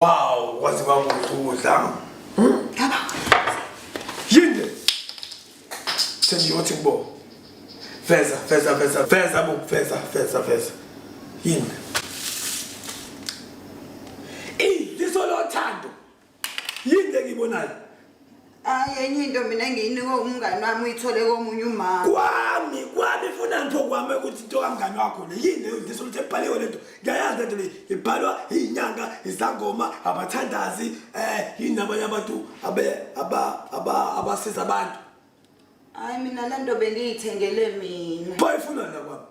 Wow, waze wamudla. Hmm? Yinde. Sengiyothi kubo. Feza, feza, feza, feza, bu, feza, feza, feza. Yinde. Ey, lisolothando. Yinde ngibonayo. hayi enye into mina engiyinikwe umngani wami uyithole komunye umama kwami kwami funa ngipho kwami ukuthi into kamngani wakho le yini leyo ngiso ukuthi ebhaliwe lento ngiyayazi lento le ibhalwa iyinyanga izangoma abathandazi um yini nabanye abantu abasiza abantu Hayi mina lento bengiyithengele mina. Bayifuna la kwami.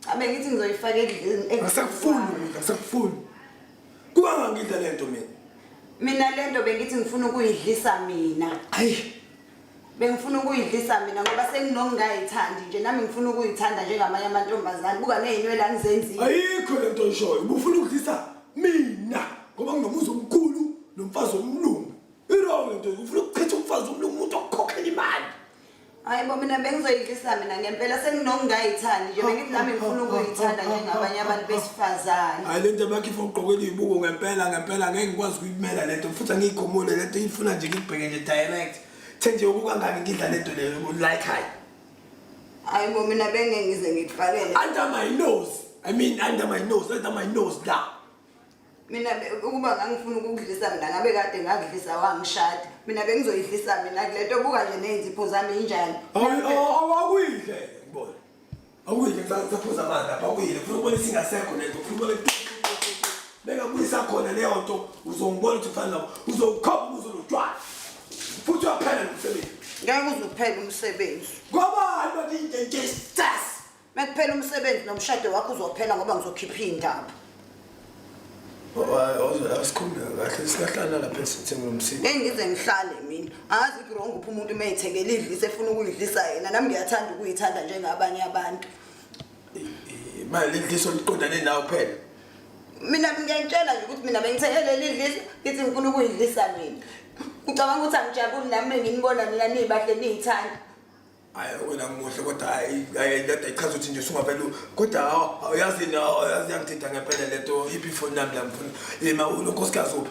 Cha bengithi ngizoyifaka endlini. Ngisakufuni mina, ngisakufuni. Kuba ngangidla lento mina. Mina lento bengithi ngifuna ukuyidlisa mina. Hayi. Bengifuna ukuyidlisa mina ngoba senginongayithandi nje nami ngifuna ukuyithanda njengamanye amantombazane. Buka nezinwele angizenzile. Ayikho lento oyishoyo. Ubufuna ukudlisa mina ngoba nginomuzi omkhulu nomfazi omlungu. Irong into ufuna ukuchitha umfazi womnye umuntu okukhokhela imali. Hayi bo mina bengizoyidlisa mina ngempela senginokungayithandi nje bengithi nami ngifuna ukuyithanda njengabanye abantu besifazane. Hayi lento bakhifa ugqokela izibuko ngempela ngempela ngeke ngikwazi ukuyimela lento futhi angiyikhomule lento ifuna nje ngibheke nje direct. The nje ukukangaki ngidla lento leyo like hayi. Hayi bo mina bengeke ngize ngikuvalele. Under my nose. I mean under my nose, under my nose la. mina ukuba ngangifuna ukukudlisa mina ngabe kade ngakudlisa wangishada mina bengizoyidlisa mina kule nto buka nje ney'nzipho zami injani awakuyidle ngibona awuyidle kusaphuza amanzi lapha awuyidle kufuna ukubona isingasekho le nto kufuna ubone bengabuyisa khona leyo nto uzongibona ukuthi kufana nabo uzowukhomba ukuze ulotshwala futhi uyaphela nomsebenzi ngeke uze uphele umsebenzi ngobani bathi into into Mekuphela umsebenzi nomshado wakho uzophela ngoba ngizokhipha indaba. Asikhumbe kahle sikahlala lapha esithini lomsini. Hey ngize ngihlale mina. Angazi kurong uphi umuntu uma ethekela idlisa efuna ukuyidlisa yena. Nami ngiyathanda ukuyithanda njengabanye abantu. Imali idliso liqondane nawe phela. Mina ngiyantshela nje ukuthi mina bengithekele idlisa ngithi ngifuna ukuyidlisa mina. Ucabanga ukuthi angijabuli nami nginibona nina nibahle niyithanda. hayi wena muhle kodwa hayi hayi kade ichaza ukuthi nje usungavele kodwa hawu yazi na yazi yangithinta ngempela lento iphi ifoni yami la ngifuna yima unonkosikazi uphi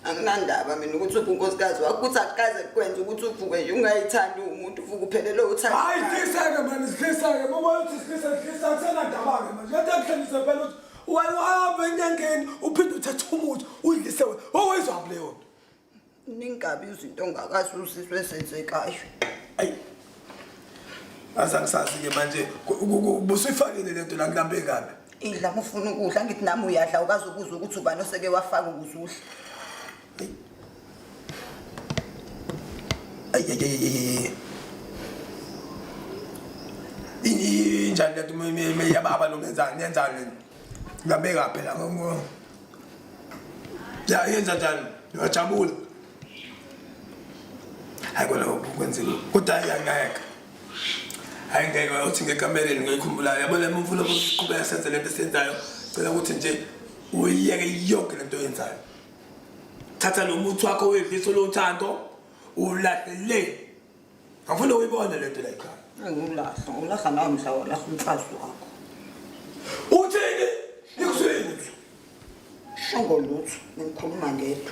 anginandaba mina ukuthi uphi unkosikazi wakho ukuthi akukaze kukwenza ukuthi uvuke nje ungayithandi umuntu uvuke uphelele uthanda hayi dliseke mani sidliseke bobona ukuthi sidlisa dlisa kusenandaba-ke manje lento yakuhlengise phela ukuthi wena uhambe enyangeni uphinde uthathe umuthi uyidlise wena owayizwaphi leyo nto ningabi izinto ngakazuzizwe ezenzekayo ayi aza ngisazi-ke manje busuyifakile le nto la kulambe kabi idla mufuna ukudla ngithi nami uyadla ukazi ukuza ukuthi ubani oseke wafaka ukuze udle injani le nto meyababa lo ngenzani yenzani le nto kulambe kabi la ya yenza njani ngiyajabula hayi kona kwenzima kodwa hayi angeke hayi ngeke uthi ngekamereni ngiyikhumbulayo yabona uma ufuna ukuqhubeka senze lento esiyenzayo cela ukuthi nje uyiyeke yonke lento oyenzayo thatha lo muthi wakho wedliso lothando ulahlele Angifuni uyibone lento la ekhaya. Ngilahla, ngilahla nawe mhla walahla umfazi wakho. Uthini? Nikusini? Shongo lutho, ngikhuluma ngedwa.